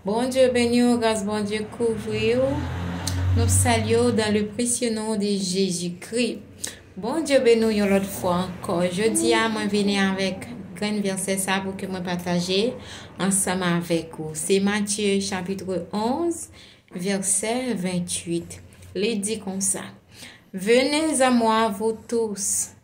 Bondye beni w gras Bondye kouvri w nou salye w dan le presye non de Jezi Kri Bondye beni w yon lòt fwa ankò jodi a mwen vini avèk grenn vèsè sa pou ke mwen pataje ansanm avèk ou se Matye chapitre 11 vèsè 28 li di konsa Venez a mwa vou tous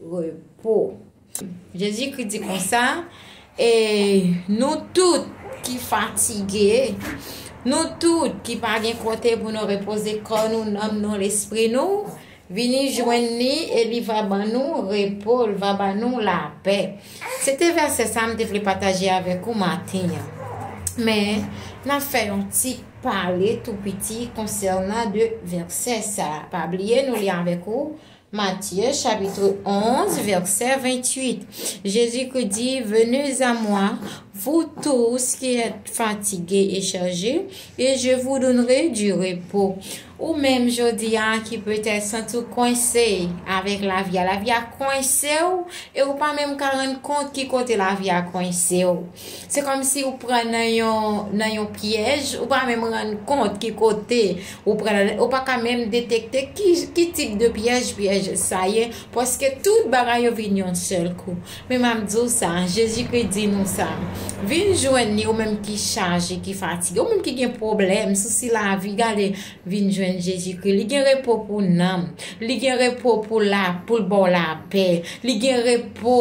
repo. Jezikri di konsa, E nou tout ki fatige, nou tout ki pa gen kote pou nou repoze kò nou, nanm nou, lespri nou, vini jwenn li e li va ban nou repo, li va ban nou lapè. Se te vèsè sa m te vle pataje avèk ou maten an. Men, n ap fè yon ti pale tou piti konsènan de vèsè sa a. Pa bliye nou li avèk ou Matye chapitre 11 vèsè 28 Jezikri di, Venez a mwa, vou tous ki èt fatige e chaje, e je vou donnere di repo. Ou menm jodi a ki petèt santi w kwense avèk lavi a, lavi a kwense w e ou pa menm ka rann kont ki kote lavi a kwense w. Se kòmsi ou pran nan yon nan yon pyèj, ou pa menm rann kont ki kote ou pran la, ou pa ka menm detekte ki ki tip de pyèj pyèj sa ye, paske tout bagay yo vin yon sèl kou. Men m ap di w sa, Jezikri di nou sa, Vin jwenn li, ou menm ki chaje, ki fatige, ou menm ki gen pwoblèm, sousi lavi, gade, vin jwenn Jezikri. Li gen repo pou nanm, li gen repo pou la pou l ba w lapè, li gen repo.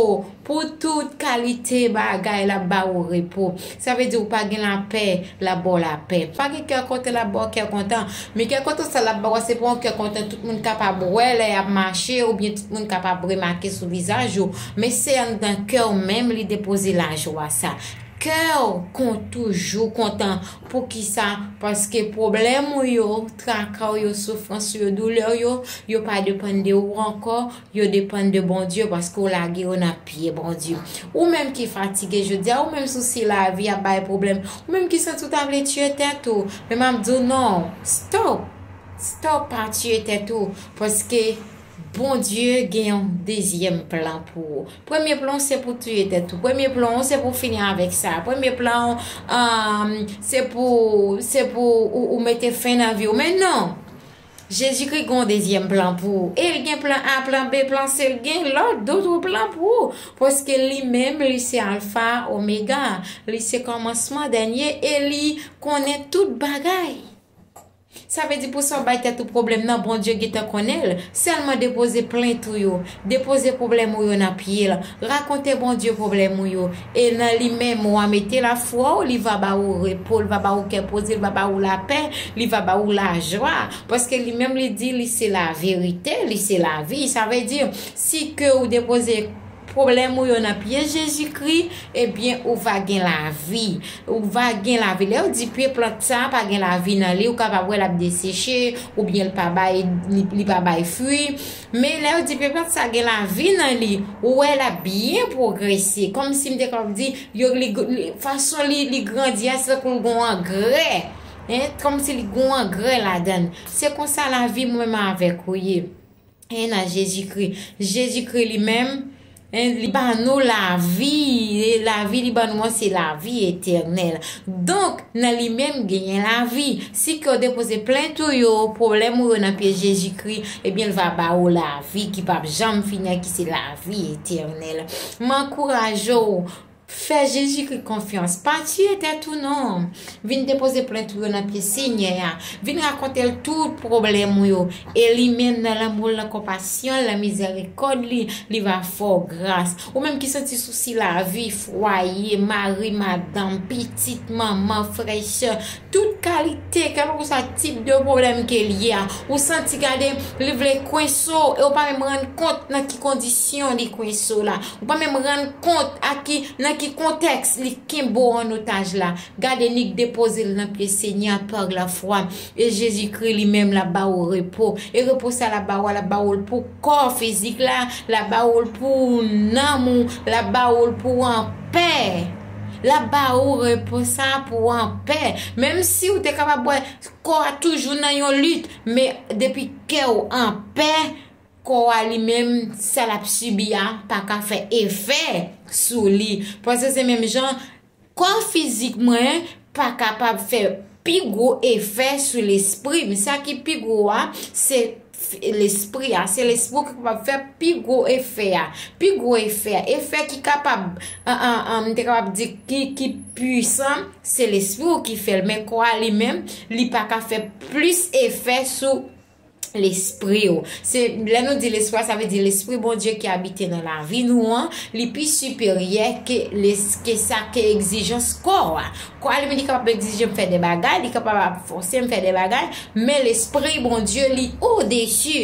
Pou tout kalite bagay l ap ba ou repo. Sa vle di ou pa gen lapè, l ap ba w lapè. Pa gen kè kontan, l ap ba w kè kontan. Men kè kontan sa l ap ba w a se pa yon kè kontan tout moun kapab wè lè y ap mache oubyen tout moun kapab remake sou vizaj ou, men se anndan kè w menm li depoze lajwa sa. Kè w kon toujou kontan. Poukisa? Paske pwoblèm ou yo, traka w yo, soufrans ou yo, doulè w yo, yo pa depann de ou ankò, Yo depann de Bondye paske w lage yo nan pye Bondye. Ou menm ki fatige jodi a, ou menm sousi lavi ap bay pwoblèm, ou menm ki santi w ta vle tiye tèt ou, men m ap di w non, stop! Stop! Pa tiye tèt ou paske Bondye gen yon dezyèm plan pou ou. Premye plan w se pou w tiye tèt ou, premye plan w se pou w fini avèk sa, premye plan w se pou ou mete fen nan vi w, men non! Jezikri gen yon dezyèm plan pou ou. E l gen plan A, plan B, plan C, l gen lòt, doutr plan pou ou. Paske li menm, li se Alfa, Omega. Li se kòmansman, dènye, e li konnen tout bagay. Sa vle di pou sa w bay tèt ou pwoblèm nan, Bondye gentan konnen l. Sèlman depoze plent ou yo. Depoze pwoblèm ou yo nan pye l. Rakonte Bondye pwoblèm ou yo, e nan li menm wa mete lafwa w, li va ba ou repo, li va ba ou kè poze, li va ba ou lapè, li va ba ou lajwa, paske li menm li di li se laverite, li se lavi, sa vle di si ke ou depoze pwoblèm ou yo nan pye Jezikri, ebyen ou va gen lavi, ou va gen lavi, lè yo di pye plant sa pa gen lavi nan li, ou kapab wè l ap deseche, oubyen li pa bay li pa bay fwi. Men lè yo di pe plat sa gen lavi nan li, ou wè l ap byen pwogrese. Kòmsi m te kapab di, yo li, fason li, li grandi a se tankou l gen yon angrè. Hein, kòmsi li gen yon angrè ladan l. Se konsa lavi mwen menm avèk ou ye. Hein nan Jezikri. Jezikri li menm. En li ba nou lavi, e lavi li ba nou an se lavi etènèl. Donk, nan li menm genyen lavi. Si ke w depoze plent ou yo, pwoblèm ou yo nan pye Jezikri, ebyen l va ba ou lavi ki pap janm fini an ki se lavi etènèl. M ankouraje w, Fè Jezikri konfyans. Pa tiye tèt ou non. Vin depoze plent ou yo nan pye Senyè a. Vin rakonte l tout pwoblèm ou yo. E li menm nan lanmou l, nan konpasyon l, nan mizèrikòd li, li va fè w gras. Ou menm ki santi sousi lavi, fwaye, mari, madanm, pitit, manman, frè, sè, Tout kalite, kèlkeswa tip de pwoblèm ke li ye a, ou santi gade li vle kwense w e ou pa menm rann kont nan ki kondisyon li kwense w la. Ou pa menm rann kont a ki, nan ki kontèks li kenbe w an otaj la. Gade nik depoze l nan pye Senyè a par la fwa e Jezikri li menm la ba ou repo. E repo sa la ba ou a, la ba ou l pou kò fizik la, la ba ou l pou nanm ou, la ba ou l pou w anpè. L ap ba ou repo sa a pou w anpè. Menm si ou te kapab wè kò a toujou nan yon lit, men depi kè ou anpè, kò a li menm sa l ap sibi a pa ka fè efè sou li. Panse se menm jan kò fizik mwen pa kapab fè pi gwo efè sou lespri m. Sa ki pi gwo a se. Lespri a, se lespri ou ki kapab fè pi gwo efè a. Pi gwo efè a, efè ki kapab, m te kapab di ki puisan, se lespri ou ki fè l. Men kò a li menm, li pa ka fè plis efè sou lespri ou. Se lè nou di lespri a, sa vle di lespri Bondye ki abite nan lavi nou an, li pi siperyè ke sa ke egzijans kò a. Kò a li menm li kapab egzije m fè de bagay, li kapab ap fòse m fè de bagay, men Lespri Bondye li odesi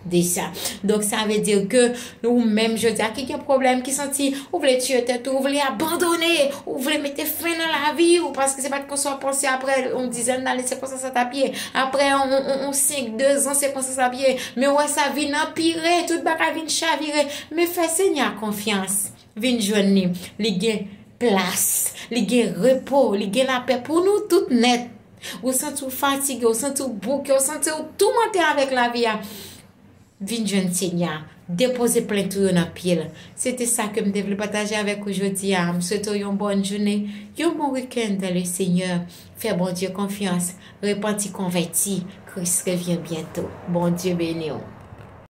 de sa. Donk sa vle di ke ou menm jodi a ki gen pwoblèm, ki santi ou vle tiye tèt ou, ou vle abandone, ou vle mete fen nan lavi ou, paske se pa t konsa w panse aprè yon dizèn dane se konsa sa t ap ye, aprè yon senk dezan se konsa sa ap ye, men wè sa vin anpire, tout bagay vin chavire, men fè Senyè a konfyans. Vin jwenn li. Li gen plas. Li gen repo. Li gen lapè pou nou tout nèt. Ou santi w fatige, ou santi w bouke, ou santi w toumante avèk lavi a, vin jwenn Senyè a. Depoze plent ou yo nan pye l. Se te sa ke m te vle pataje avèk ou jodi a. M swete w yon bòn jounen, yon bon weekend dans le Seigneur. Fè Bondye konfyans. Repanti konvèti. Kris revyen byento. Bondye beni w.